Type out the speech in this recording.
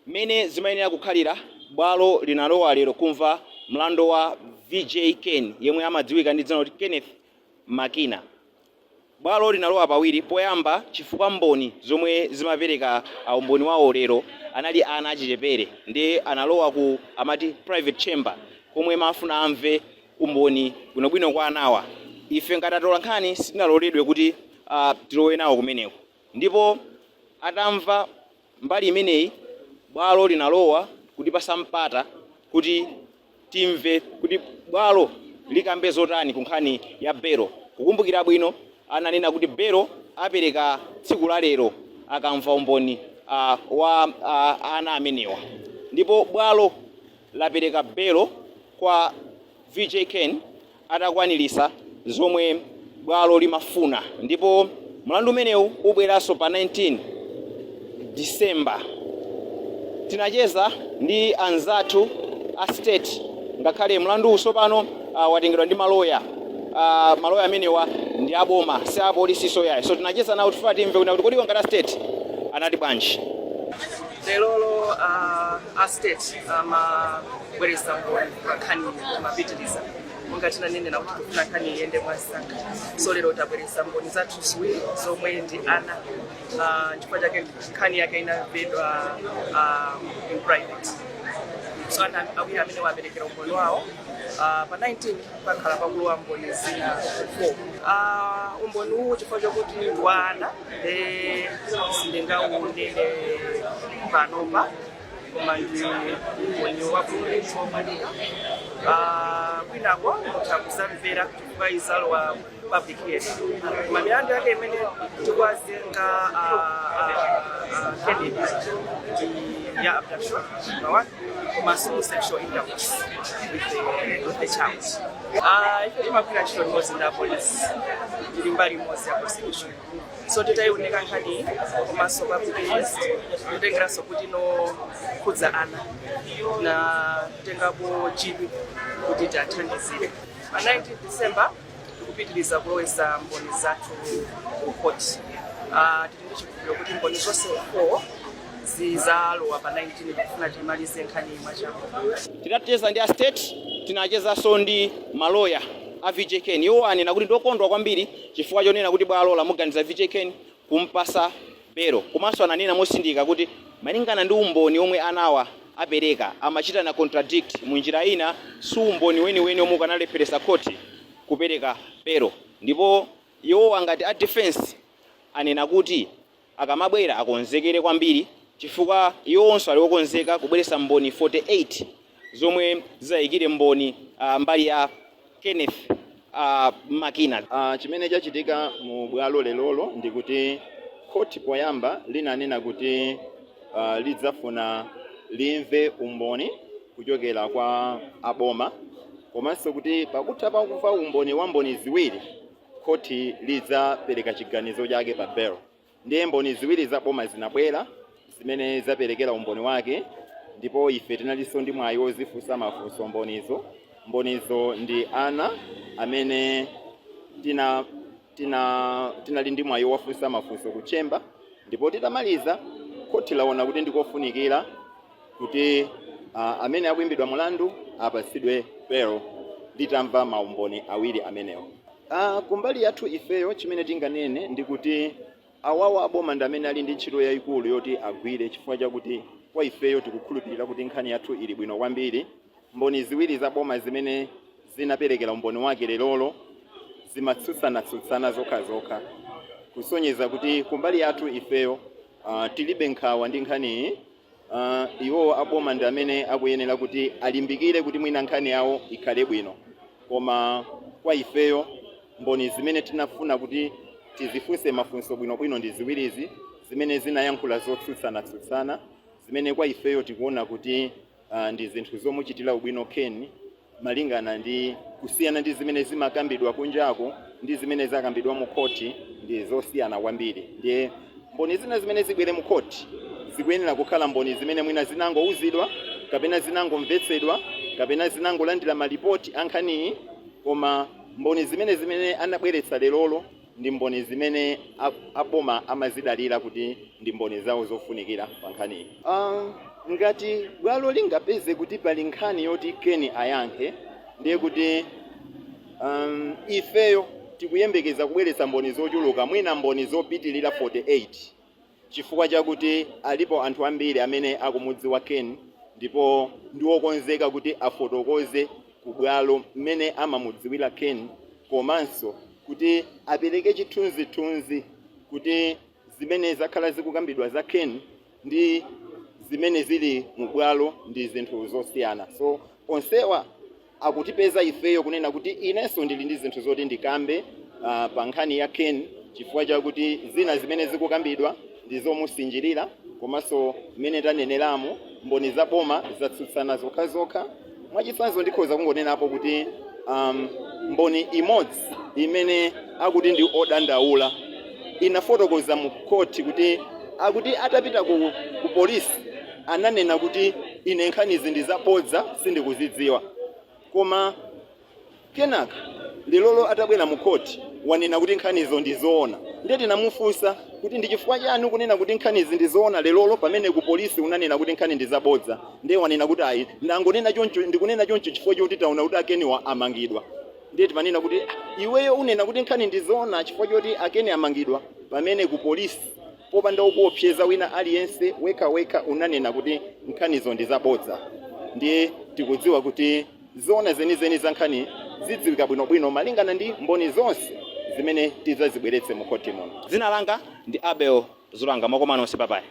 Mmene zimayenera kukhalira, Bwalo linalowa lero kumva mlando wa VJ Ken yemwe amadziwika ndi dzina loti Kenneth Makina. Bwalo linalowa pawiri poyamba chifukwa mboni zomwe zimapereka umboni wawo lero anali ana achichepere nde analowa ku amati private chamber komwe amafuna amve umboni bwinobwino kwa anawa. Ife ngati atolankhani sitinaloledwe kuti tilowe nawo kumeneko ndipo atamva. Mbali imeneyi bwalo linalowa kutipasa mpata kuti timve kuti bwalo likambe zotani ku nkhani ya belo. Kukumbukira bwino ananena kuti belo apereka tsiku la lero akamva umboni wa ana amenewa ndipo bwalo lapereka belo kwa VJ Ken. atakwanilisa zomwe bwalo limafuna ndipo mlandu umenewu ubweraso pa 19 December. Tinacheza ndi anzathu a state ngakhale mlanduwu sopano uh, watengedwa ndi maloya uh, maloya amenewa ndi aboma si apolisi soyayi so tinacheza nawo tifuna timve kunena kuti kodi iwo ngati a state anati bwanji lerolo uh, a state amabweretsa mboni pa nkhani iyi amapitiriza monga tinanenera kuti tikufuna nkhani iyende mwansanga so lero tabweretsa mboni zathu ziwiri zomwe ndi ana Ah, chifukwa chake nkhani yake inamvedwa ah, in private so ana awiri amene waperekera umboni wawo Ah, pa 19 pakhala pakulowa mboni zina 4 umboni uwu chifukwa chokuti ndi wa ana nde sindingaunene panopa koma ndi mwenye wakuomanika kwinako mutha kuzamvera chifukwa izalowa public yes koma milandu yake imene tikuwazenga Kenneth ndi ya abduction number one komanso sexual intercourse with the, with the child Ah, ife timagwira ntchito limodzi ndi apolisi tili mbali imodzi ya prosecution so titaiunika nkhani komanso papitilizi kutengeranso kuti nokhudza ana tinatengapo chidwi kuti tiathandizire pa 19 december tikupitiriza kulowesa mboni zathu ku court Ah, tili ndi chikhulupiriro kuti mboni zonse 4 zizalowa pa 19 kufuna timalize nkhani mwachangu tinacheza ndi a state tinachezanso ndi maloya a VJ Ken iwo anena kuti ndokondwa kwambiri chifukwa chonena kuti bwalo lamuganiza VJ Ken kumpasa belo komanso ananena mosindika kuti malingana ndi umboni omwe anawa apereka amachitana contradict mu njira ina si umboni weniweni omwe ukanalepheresa khoti kupereka belo ndipo iwowa ngati a defense anena kuti Akamabwera akonzekere kwambiri chifukwa iwowonso ali okonzeka kubweretsa mboni 48 zomwe zizayikire umboni mbali ya Kenneth Makina. Chimene chachitika mu bwalo lerolo ndi kuti khoti poyamba linanena kuti lidzafuna limve umboni kuchokera kwa a boma komanso kuti pakutha pakumva umboni wa mboni ziwiri, Khoti lidzapereka chiganizo chake pa belo. Ndiye mboni ziwiri za boma zinabwera zimene zaperekera umboni wake ndipo ife tinalinso ndi mwayi wozifunsa mafunso mbonizo. Mbonizo ndi ana amene tina tinali ndi mwayi wowafunsa mafunso ku chamber ndipo titamaliza khoti laona kuti ndikofunikira kuti ah, amene akuimbidwa mulandu apatsidwe belo litamva maumboni awiri amenewo Ah, kumbali yathu ifeyo chimene tinganene ndi kuti awawa aboma ndi amene ali ndi ntchito yayikulu yoti agwire chifukwa chakuti kwa ifeyo tikukhulupirira kuti nkhani yathu ili bwino kwambiri mboni ziwiri za boma zimene zinaperekera umboni wake lerolo zimatsutsanatsutsana zokha zokha kusonyeza kuti kumbali yathu ifeyo uh, tilibe nkhawa ndi nkhaniyi uh, iwowo aboma ndi amene akuyenera kuti alimbikire kuti mwina nkhani yawo ikhale bwino koma kwa ifeyo mboni zimene tinafuna kuti tizifunse mafunso bwinobwino ndi ziwirizi zimene zinayankhula zotsutsana-tsutsana zimene kwa ifeyo tikuona kuti uh, ndi zinthu zomuchitira ubwino Ken malingana ndi kusiyana ndi zimene zimakambidwa kunjako ndi zimene zakambidwa mu khoti ndi zosiyana kwambiri ndiye mboni zina zimene zibwere mu khoti zikuyenera kukhala mboni zimene mwina zinangouzidwa kapena zinangomvetsedwa kapena zinangolandira malipoti a nkhaniyi koma mboni zimene zimene anabweretsa lerolo ndi mboni zimene a, a boma amazidalira kuti ndi mboni zawo zofunikira pa nkhaniyi. Uh, ngati bwalo lingapeze kuti pali nkhani yoti Ken ayankhe ndiye kuti um, ifeyo tikuyembekeza kubweretsa mboni zochuluka mwina mboni zopitilira 48 Chifukwa chakuti alipo anthu ambiri amene akumudziwa Ken ndipo ndi okonzeka kuti afotokoze ku bwalo mmene amamudziwira Ken komanso kuti apereke chithunzithunzi kuti zimene zakhala zikukambidwa za Ken ndi zimene zili mu bwalo ndi zinthu zosiyana. So onsewa akutipeza ifeyo kunena kuti inenso ndili ndi zinthu zoti ndikambe ah, pa nkhani ya Ken chifukwa chakuti zina zimene zikukambidwa ndi zomusinjirira komanso mmene taneneramo mboni za boma zatsutsana zokhazokha mwachitsanzo ndikhoza kungonenapo kuti um, mboni imodzi imene akuti ndi odandaula inafotokoza mu khoti kuti akuti atapita ku, ku polisi ananena kuti ine nkhanizi ndi zabodza sindikuzidziwa koma kenaka lelolo atabwera mu khoti wanena kuti nkhanizo ndi zoona ndiye tinamufunsa kuti ndi chifukwa chani ukunena kuti nkhanizi ndi zoona lelolo pamene ku polisi unanena kuti nkhani ndi zabodza ndiye wanena kuti ayi ndangonena choncho ndikunena choncho chifukwa choti ndaona kuti a Keniwa amangidwa ndiye timanena kuti "Ah, iweyo unena kuti nkhani ndi zoona chifukwa choti a Ken amangidwa pamene ku polisi Popanda wokuopseza wina aliyense, wekhawekha unanena kuti nkhanizo ndi zabodza. Ndiye tikudziwa kuti zoona zenizeni za nkhani zidziwika bwinobwino malingana ndi mboni zonse zimene tidzazibweretse mu khoti muno. Dzina langa ndi Abel Zulanga. Mwakoma nonse. Babayi.